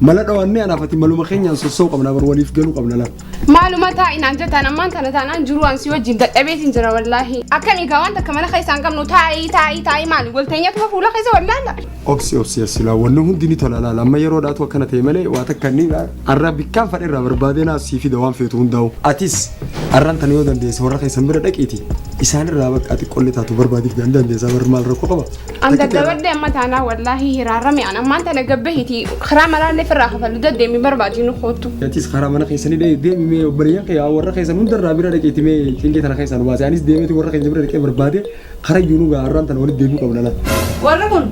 Mala dhawaan mee anaaf ati maluma keenyaan sossa'u qabna bar waliif galu qabna laal. Maaluma taa'i naan jettaan ammaan tana taanaan jiruu an si wajjin dadhabeetiin jira wallaahi. Akkamii gaa wanta akka mana keessaa hin qabnu taa'i taa'i taa'i maali wal teenyatuma fuula keessa wallaala. Obsi obsi asilaa wanni hundi ni tola laal amma yeroo dhaatu akkana ta'e malee waa takka inni arraa bikkaan fadherraa barbaadee naaf sii fida waan feetu hundaa'u. Atis arraan tana yoo dandeesse warra keessan bira dhaqiiti isaanirraa bakka ati qolli taatu barbaadiif gahan dandeessaa barri maal rakkoo qaba. An dadhabadhe amma taanaa wallaahi hiraarame an ammaan tana gabbe hiti karaa maraallee firraa kafalu daddeemi barbaadi nu koottu. Atis karaa mana keessanii dhee deemi mee obboleeyyan kee warra keessan hundarraa bira dhaqeeti mee cinqii tana keessaa nu baase anis deemeeti warra keenya bira dhaqee barbaade karaa iyyuu nu ga'a har'aan tana walitti deebi'uu qabna laata. Warri kun.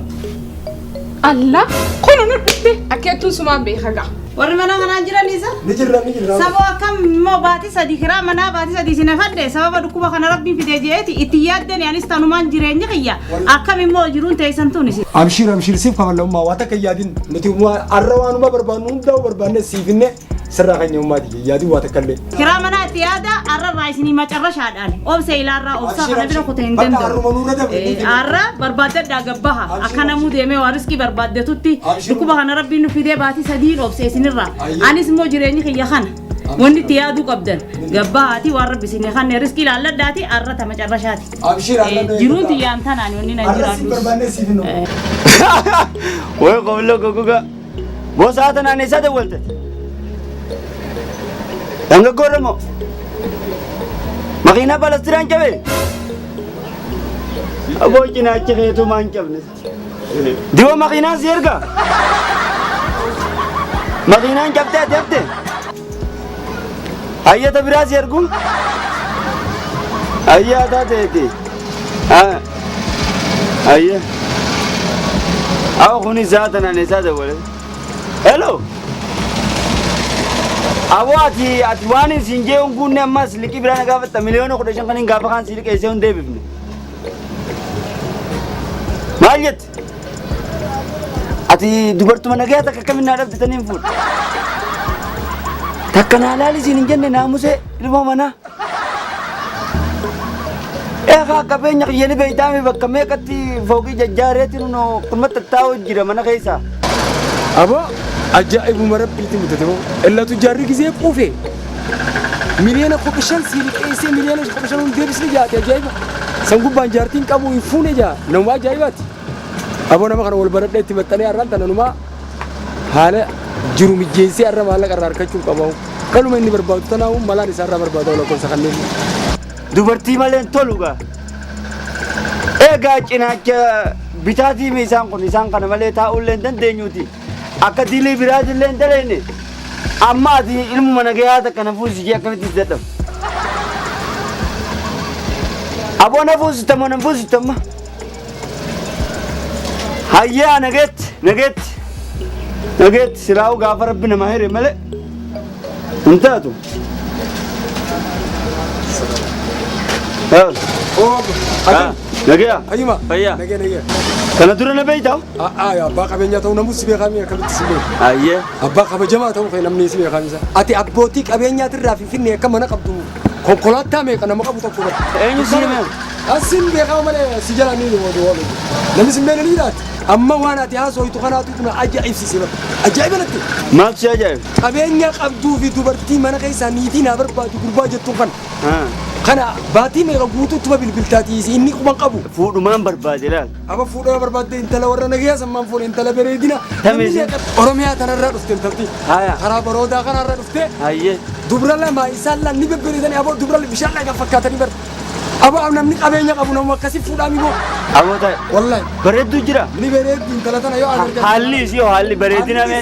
Alla kunu nu dhufte akkeettuun sumaa beeka ga'a. Warri mana kanaa jiran isa? Ni jirra ni jirra. Saboo akkam immoo baatii sadii kiraa manaa baatii sadii isin hafadhe sababa dhukkuba kana rabbiin fidee je'eeti itti yaaddani anis tanumaan jireenya kiyya akkam immoo jiruun teessan tun isin. Abshiir abshiir siif kafallamummaa waa takka yaadin nuti waa- har'a waanuma barbaannu hundaa'u barbaannee siifinne sirraa keenya uumaati yaadin waa takka illee. Kiraa manaa itti yaada arrarraa isinii macarrashaadha. Obse ilaarraa obsaa kana bira kuta hin danda'u. Aarra barbaaddadhaa gabbaha. Akka namuu deemee waa riskii barbaaddetutti dhukkuba kana rabbiin nu fidee baatii sadiin obse isinirraa. Anis immoo jireenyi kiyya kana. Wanti itti yaaduu qabdan gabbahaatii waan rabbi isinii kanne riskii laalladhaati aarra tama carrashaati. Jiruun tiyyaan tanaan wanni nan jiraadhu. Wai komlo gogoga. Boosaa tana ani isa dawwalte. Dargaggoo Oromoo. Makiinaa balastiraan cabee. Aboo cinaachi keetuu maan cabne. Diwa makiinaan si erga. Makiinaan cabtee ati hafte. Hayyata biraa si ergu. Hayyaa taateeti. Ah, ayya. Awa kuni zaata naan eessaa dawwale. Hello. Awo ati ati waan hin siin jee hin guunne ammas liqii biraa na gaafatta miliyoona kudha shan kan hin gaafa kaan sii liqeessee hin deebifne. Maal jette? Ati dubartuma nagayaa takka akkamiin naa dhabditanii hin fuudhe. Takka naa laali siin hin jenne naamusee ilmoo manaa. Eegaa qabeenya kiyya ni beeytaame bakka meeqatti fooqii jajjaareetti nuno kumatti taa'u jira mana keessa. Aboo ajaa'ibuma rabbiitti mutate moo illatu jaarri gisee quufe miliyoona kudha shan sii liqeessee miliyoona kudha shan hundi deebisni jaate ajaa'iba san gubbaan jaartiin qabu hin fuune jaa nama ajaa'ibaati aboo nama kana wal baradhee itti maxxanee har'aan tananumaa haala jiru mijjeessee irra maallaqa irraa harkachuuf qabaa'u. Dhaluma inni barbaadu tanaa'u malaan isaa irraa barbaadaa'u lakkoofsa kanneen. Dubartii maleen tolu gaa. Egaa cinaacha bitaatii isaan kun isaan kana malee taa'uu illee hin dandeenyuuti. Akka dilii biraati illee hin daleenne. Amma ati ilmuma nagayaa takka na fuusisee akkamitti si dadhabu. Aboo na fuusitamoo na fuusitamma. Hayyaa nageetti nageetti nageetti silaa'u gaafa rabbi namaa hire malee hin taatu. Nageeya Ayyuma. Fayyaa. Nagee nagee. kana dura na beeytaa? A'aa yaa abbaa qabeenyaa ta'uu namus si beekamee akkamitti si beeku. Ayyee. Abbaa kabajamaa ta'uu kee namni si beekamisa. Ati abbootii qabeenyaatirraa finfinnee akka mana qabdu Konkolaataa meeqa nama qabu tokko irratti. Eenyu si hime? Asiin beekaa malee si jala ni hima duwwaa beeku. Namni si meena ni jiraata. Amma waan ati haasooytu kanaatu tuna ajaa'ibsiise bara. Ajaa'iba natti. Maaf si ajaa'ibe? Qabeenya qabduu fi dubartii mana keessaa niitii naa barbaadu gurbaa jettuun kana. Haa. Kana baatii meeqa guutuuttuma bilbiltaati inni quban qabu. Fuudhumaan barbaade laal. Aba fuudhaa barbaadde intala warra nagayaa sammaan fuune intala bareedina. Tamizi. Oromiyaa tanarraa dhufte intalti. Haya. Karaa baroodaa kanarraa dhufte. Hayyee. Dubra lama isaan laan ni bebbereedani aboo dubra bishaan laga fakkaatanii bar. Aboo namni qabeenya qabu namu akkasii fuudhaa mimoo. Aboota Wallahi. bareedduu jira. Ni bareeddi intala tana yoo agargan. Haalli isii hoo haalli bareedina mee.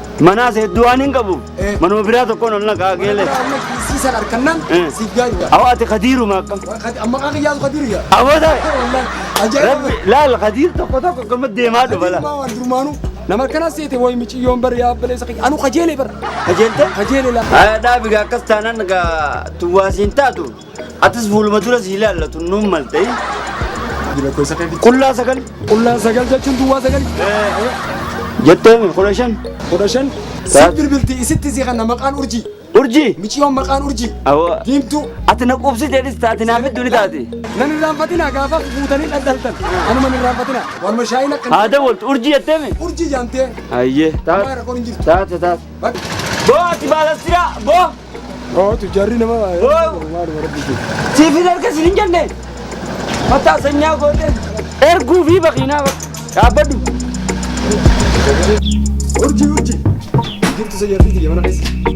Manaas hedduu waan hin qabuuf Eh. manuma biraa tokkoon ol naqaa geelee. Siisan harkannan Eh. si gaajja. Awwa ati kadiiruma akkam. Amma kan kiyyaatu kadiru yaa. Awwa taa'e. Wallahi ajaa'iba. Rabbi laal kadiir tokko tokko akkama deemaa dhufa laa. Maa waan durmaanu nama akkana seete wayi miciyyoon bar yaa baleessa kiyya. Anu kajeelee bar. Kajeelte? Kajeelee laa. Haa dhaabi gaa akkas taanaan gaa tuwaasiin taatu. Atis fuuluma dura si ilaallatu nuun mal ta'e. Qullaa sagal. Qullaa sagal jechuun duwwaa sagal. Jettee mi kudha shan. Kudha shan. Siif bilbilti isitti si kanna maqaan urjii. Urjii. Miciyoon maqaan urjii. Awwa. Diimtuu. Ati na qubsite dhis taati naaf iddoo ni taati. Nan irraanfatina gaafa fuutanii dhaldhaltan. Anuma hin irraanfatina. Warma shaayiin akka. Haa dawwaltu urjii jettee mi. Urjii jaamtee. Ayyee. Taate. Taate taate. Boo ati baala siraa boo. Hootu jarri nama Siifin harka siin hin jenne. Mataa sanyaa goote. Erguu fi baqiinaa dhaabbadhu. Urjii urjii. Jirtu isa jarri kiyya mana keessa.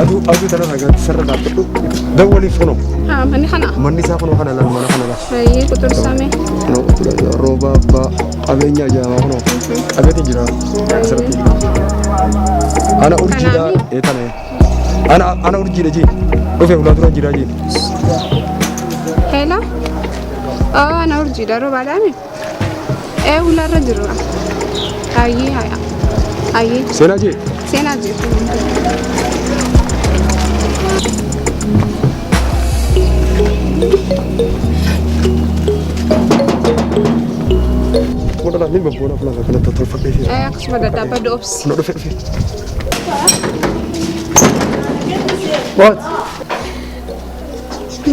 Aduu aduu tana ragaa sarara dhaabbadhu. Dawwaliif kunoo. Haa, manni kana. Manni isaa kunoo kana laal mana kana laal. Baay'ee quxursame. Kunoo kunoo rooba abbaa qabeenya ajaa'iba kunoo. Qabeenya jira asirratti. Ana urjiidha ee tana ee. Ana ana urjiidha jee. Dhufee ulaa dura jiraa jee. Heela. Aa, na urjiidha roobaadhaami. Ee hulaarra jirra. Ayyee haya. Ayyee Seenaa jee. seenaa jirtu. Mudhalaan ni babboona fulaan kan kanatti tolfadhee fi Ee akkasuma dadhaabadhu obsi. na dhufe dhufe. What?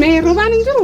Mee roobaan hin jiru?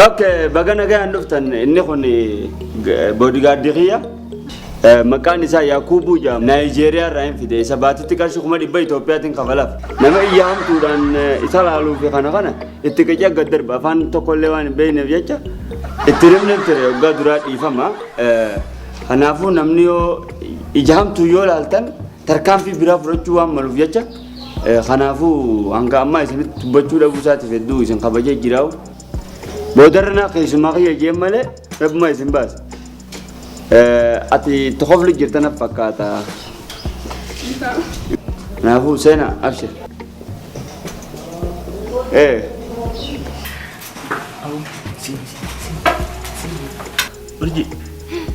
Okay, baga nagaan dhuftan inni kun boodigaardii kiyya. Maqaan isaa Yaakuubuu jedhama. Naayijeeriyaa irraa hin fide. Isa baatitti qarshii kuma dhibba Itoophiyaatiin kafalaaf. Nama iyya hamtuudhaan isa laaluu fi kana kana itti qicee gad darba. Afaan tokkollee waan hin beekneef jecha itti rifneef ture waggaa duraa dhiifama. Kanaafuu namni yoo ija hamtuu yoo laaltan tarkaanfii biraa fudhachuu waan maluuf jecha kanaafuu hanga ammaa isinitti dubbachuu dhabuu isaatiif hedduu isin kabajee jiraa'u. Boodarra naa keessumaa kiyya jeen malee rabbuma isin baasa. Ati itti kofli jirta na fakkaata. Kanaafuu seena abshir. Ee. Urji,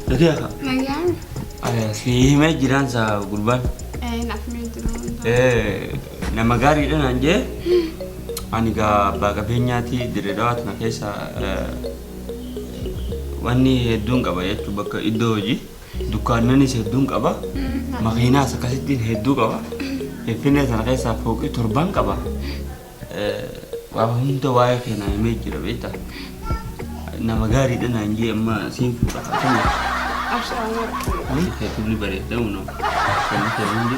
dhagee akka. Nagaan. Si himee jiraan saa gurbaan. Ee naaf mee jiru. Ee, nama gaariidha naan jee. Ani gaa abbaa qabeenyaati dirree dhawaatuma keessa Wanni hedduun qaba jechuun bakka iddoo hojii dukkaannanis hedduun qaba. Makiinaas akkasittiin hedduu qaba. Finfinnee sana keessaa fooqii torbaan qaba. Waa hunda waa'ee keenyaa himee jira beektaa. Nama gaariidha naan jee amma siin fuudha. Ashaa warqee. Keetumni bareedamuu nama. Kan nuti hundi.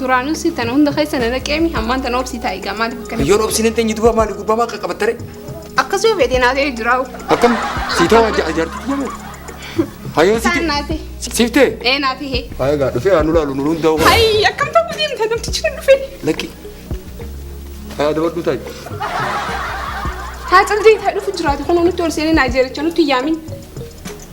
Duraanuu si tana hunda keessa na naqeemi hammaan tana obsii taa'i gaa maaliif akkana. Yoon obsiin hin teenye duuba maali gurbaa maal qaqqabattare? Akkas yoo feetee naa ta'ee jiraa'u. Akkam sii ta'u ajaa ajaartu jedhamu. Hayoon Isaan naa ta'e. siif ta'e? Ee naa ta'e. Haa egaa dhufee haa nu laalu nu hundaa'u. Hayi akkam ta'uu deemta namtichi kun dhufee. Lakki. Haa dabaddu taa'i. Haa caldee taa dhufu jiraate kun nutti ol seenee naa jeericha nutti yaamin.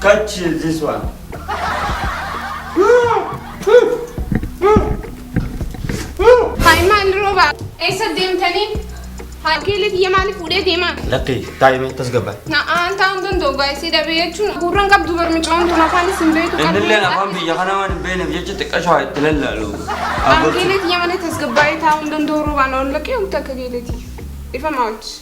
Catch this one. Haayimaan rooba eessa deemtanii? Harkeelee biyya maaliif fuudhee deemaa? Lakkii daa'imee tasgabba. Na'aan ta'an danda'u gaa'isii dhabee jechuun gurran qabdu barmicoon tun afaan isin beeku qabdu. Innilleen afaan biyya kana waan hin beekneef jecha xiqqashaa itti lallaalu. Harkeelee biyya malee tasgabbaa'ee taa'uu hin danda'u roobaan ol laqee wanta akka geeleeti. Ifa maawuchi.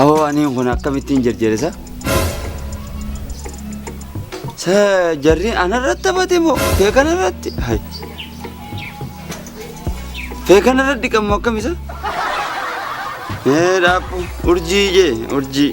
Awoo aniin kun akkamittiin jarjarisa? Sa jarri anarratti taphate moo kee kanarratti? Hai. Kee kanarratti dhiqamu akkamisa? Ee dhaabbu urjii jee urjii.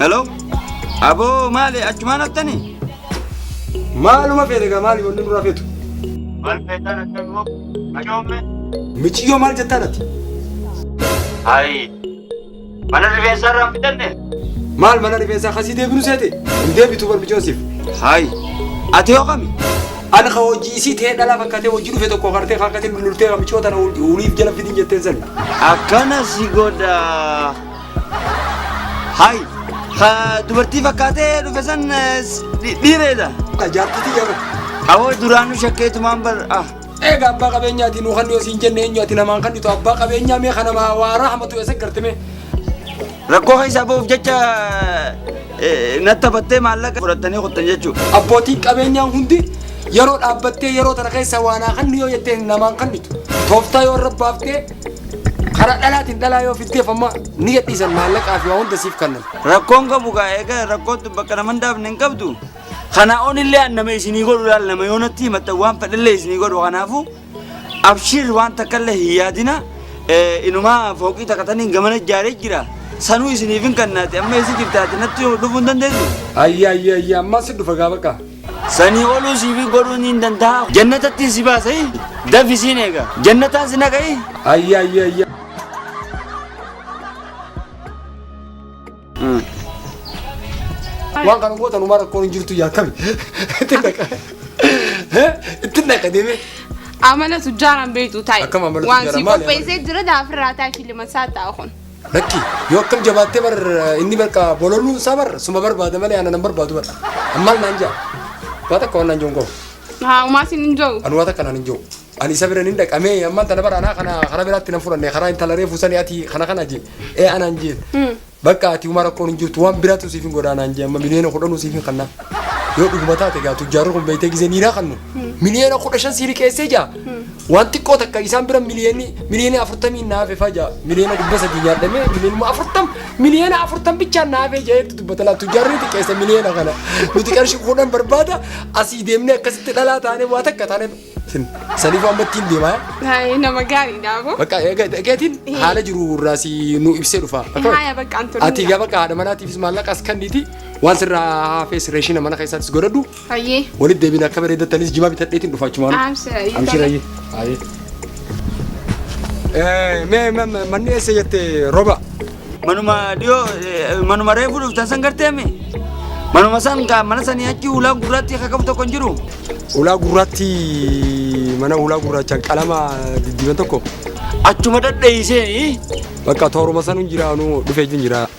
Hello? Aboo maali achumaan haftani? Maaluma feete gaa maali wanni nurraa feetu? Maal feetaan akka immoo ajoomme? Miciyyoo maal jettaan ati? Ayi. Mana rifeensaa irraa hin fidanne? Maal mana rifeensaa kasii deebinu seete? Hin deebitu bar micoon siif. Hayi. Ati yoo kami? Ani ka hojii isii ta'ee dhalaa fakkaatee hojii dhufe tokko kartee fakkaatee lultee micoo tana uliif jala fidin jetteen sani. Akkana si godha. Hay, ka dubartii fakkaatee dhufe san eh, s- dhi- dhiireedha. Ka jaartitii jaba. Awoo duraanuu shakkeetumaan bar ah. Eega abbaa qabeenyaati nu kan siin jenne eenyu ati namaan kan dhitu abbaa qabeenyaa mee kana maa waaraa hamatu eessa garte mee. Rakkoo keessaa ba'uuf jecha eh, na taphattee maallaqa fudhattanii kuttan jechuudha. Abbootiin qabeenyaa hundi yeroo dhaabbattee yeroo tana keessa waanaa kan yoo jettee namaan kan dhitu. Tooftaa yoo irra baaftee Karaa dhalaatiin dhalaa yoo fiddeef amma ni gadhiisan maallaqaa fi waa hunda siif kannan. Rakkoon qabu gaa egaa rakkoottu bakka nama hin daafne hin qabdu. Kana onillee an nama isinii godhu laal nama yoo natti himatta waan fedhallee isinii godhu kanaafuu abshiir waan takkallee hin yaadina Eh, inumaa fooqii takkataniin gamana ijaaree jira sanuu isiniif hin kannaati amma isi jirtaati natti dhufuu hin dandeessu. Ayya ayya ayya ammaa si dhufa gaa bakka. Sanii oluu siifii godhuu niin dandahaa. Jannatattiin si baasa i. Dafi siin eega. Jannataan si naqa i. Ayya ayya ayya. Waan kana gootan umaa rakkoon hin jirtu yaa kami. Itti naqa. Itti naqa deemee. Amala tujjaaraan beektu taa'e. Akkam amala Waan tujjaaraan? si Maali amala? qopheessee jira daafirraa taa'e filima isaa ta'a kun. Lakki yoo akkam jabaattee bar inni bakka bololuun isaa bar suma barbaada malee ana nan barbaadu bar. Ammaal naan jaa. Waa takka waan naan jiru hin qabu. Haa umaa sin hin jiru. Ani waa takka naan hin jiru. Ani isa bira hin dhaqamee ammaan tana bara anaa kana karaa biraatti nan fudhanne karaa intala reefu sanii ati kana kana jee ee anaan jeen. Bakka ati umaa rakkoon hin jirtu waan biraatu siif hin godhaa naan jee amma miliyoona kudhanuu siif hin kannaa. Yoo dhuguma taate gaa tujjaarri kun beektee gisee niiraa kannu miliyoona kudha shan sii liqeessee jaa. Waan xiqqoo takka isaan bira miliyoonni miliyoonni afurtamiin na hafe faa ja'a miliyoona dhibba sadii nyaadhamee miliyoonuma afurtam miliyoona afurtam bichaan na hafee ja'eetti dubbata laatu jaarri xiqqeessa miliyoona kana nuti qarshii kudhan barbaada asii deemnee akkasitti dhalaa taanee waa takka taanee sin saniif waan battiin deemaa Haayee nama gaariidha aboo. bakka eegatiin haala jiru irraa si nu ibsee dhufa Haaya bakka an turuu ati gaa bakka haadha manaatiifis maallaqa as kanniti waan sirraa hafees reeshina mana keessaattis godhadhu Hayyee. Walitti deebiin akka bareedattanis jimaa bitadheetiin dhufa achumaan. Amshira. yoo Amshira tole. ayyee. Ayyee. Eh, Mee ma- ma- manni eessa jette roba? Manuma dhiyoo eh, manuma reefu dhuftan san garteemi. Manuma san ka- mana sanii achi ulaa gurraatti akka qabu tokko hin jiru. Ulaa gurraatti mana ulaa gurraachaan qalama diddiiban tokko Achuma dhadheessee bakka tooruma san hin jiraanu dhufee hin jira.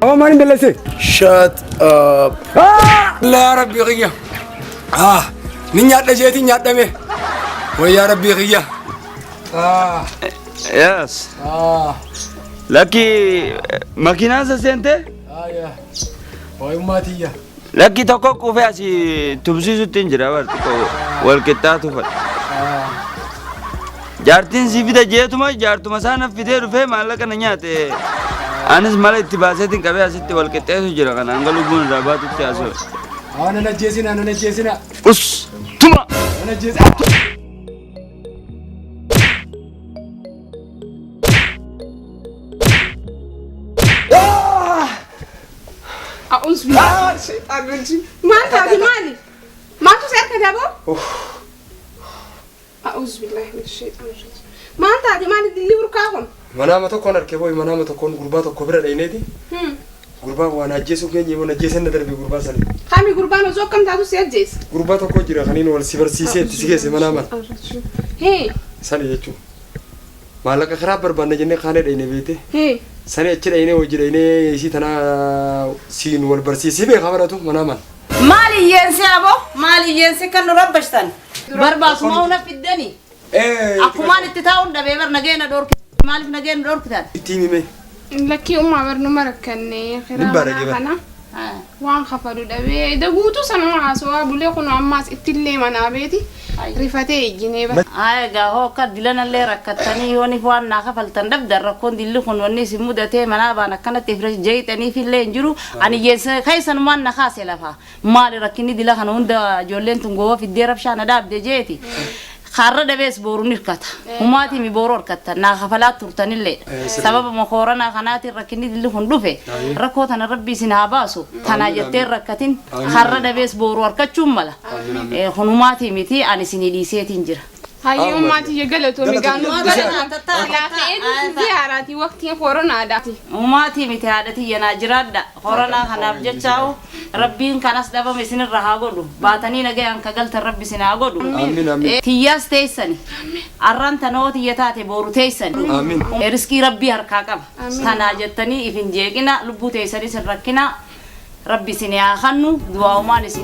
Amma maaliin balleesse? Shut up. Yaa rabbii kiyya. Ah, ni nyaadha isheetiin nyaadhame. Wayyaa rabbii kiyya. Ah, Yes. ah, Lakki makiinaan isa seentee? ah, yaa. Waayummaa tiyya. Lakki tokko quufee asi tumsiisutti hin jira bar xiqqoo wal qixxaa tufadha. Jaartiin si fida jeetuma jaartuma isaa naf fidee dhufee maallaqa na nyaate. Anis mala itti baaseetiin qabee asitti wal qixxeessu jira kana hanga lubbuun irraa baatutti haasoo. Haa nan ajjeesina nan ajjeesina Us tuma nan ajjeesina. A'uus bilaa. Sheexaan lolchi. Maal taate maali? Maaltu si harka daboo? A'uus bilaa hin sheexaan lolchi. Maal taate maali dilli burkaa kun? Manaama tokkoon harkee booyi manaama tokkoon gurbaa tokko bira dhayneeti. Gurbaan waan ajjeesuu keenya immoo ajjeesee na darbe gurbaa sanii. Kami gurbaan osoo akkam taatu si ajjeese? Gurbaa tokko jira kaniin wal si barsiisee itti si geesse manaa mana. Hee. Sani jechuun. Maallaqa kiraa barbaanna jennee kaanee dhayne beeyte. Hii. Sanii achi dhaynee wajji dhaynee isii tanaa siin wal barsiisii beeka baratu manaa man. Maal iyyeense aboo maal iyyeense kan nu rabbashtan. Barbaas moo na fiddani. Akkumaan itti taa'uun dhabee bar nagee na dhoorkite maaliif nagee na dhoorkitan. Ittiin himee. Lakkii ummaa bar numa rakkannee kiraa manaa kana. Waan kafalu dhabee eda guutuu sanuma haasowaa bulee kunoo ammaas ittillee manaa beeti rifatee ijjinee bara. Haa egaa hoo akka dilanallee rakkattanii yooniif waan naa kafaltan dhabdan rakkoon dilli kun wanni isin mudatee manaa baan akkanatti if jeyxaniifillee hin jiru ani jeysa keysanumaan na kaase lafaa maali rakkinni dila kana hunda ijoolleen tun goowa fiddee rabshaa na dhaabde jeeti Har'a dhabees boru nirkata. Humaatiimi boru harkattan naa kafalaa turtanillee dha. Sababuma kooranaa kanaatiin rakkinni dilli kun dhufe. Rakkoo tana Rabbi isin haa baasu. Tanaa jettee hin rakkatin. Har'a dhabees boru harkachuun mala. Kun humaatii miti ani isinii dhiiseetiin jira. Hayyee ummaa tiyya galatoomi gaa nuuf godhatan. Laafa'ee nuuf ziyaaraa ti waqtiin koronaadhaati. Humaatii miti haadha tiyya naa jiraadha. Koronaa kanaaf jechaa'u rabbiin kan as dhabame isinirra haa godhu. Baatanii nagayaan ka galtan rabbi isin haa godhu. Amin amin. Tiyyaas teessani. Arraan tana hoo tiyya taate booru teessani. Amin. Risqii rabbii harkaa qaba. Tanaa jettanii if hin jeeqina lubbuu teessaniis hin rakkina. Rabbi isin haa kannu du'aa'umaan isin